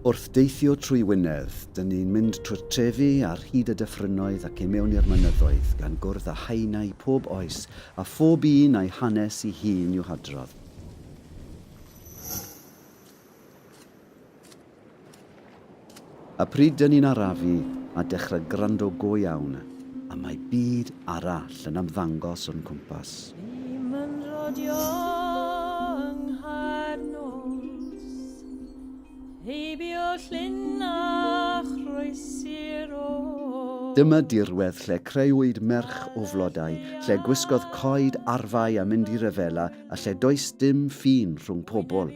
Wrth deithio trwy Wynedd, dyn ni'n mynd trwy'r trefi ar hyd y dyffrynnoedd ac i mewn i'r mynyddoedd, gan gwrdd â haenau pob oes, a phob un a'i hanes i hun i'w hadrodd. A pryd dyn ni'n arafu a dechrau gwrando go iawn, a mae byd arall yn ymddangos o'n cwmpas. Dim yn rodio yng Nghaernos, heibio llun a chroesi'r oes. Dyma dirwedd lle creuwyd merch o flodau, lle gwisgodd coed arfau a mynd i ryfela a lle does dim ffin rhwng pobl.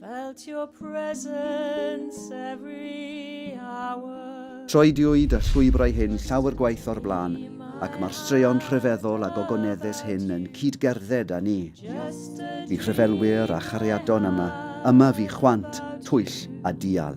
Felt your presence every hour. Troediwyd y llwybrau hyn llawer gwaith o'r blaen, ac mae'r straeon rhyfeddol a gogoneddus hyn yn cyd-gerdded â ni. Bu rhyfelwyr a chariadon yma, yma fu chwant, twyll a dial.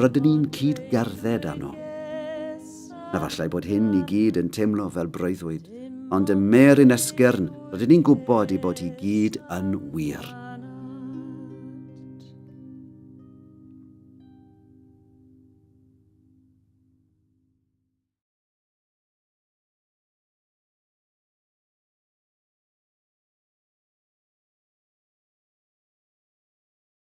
rydyn ni'n cyd-gerdded arno. Na fallai bod hyn i gyd yn teimlo fel breuddwyd, ond ym mer yn esgyrn rydyn ni'n gwybod i bod hi gyd yn wir.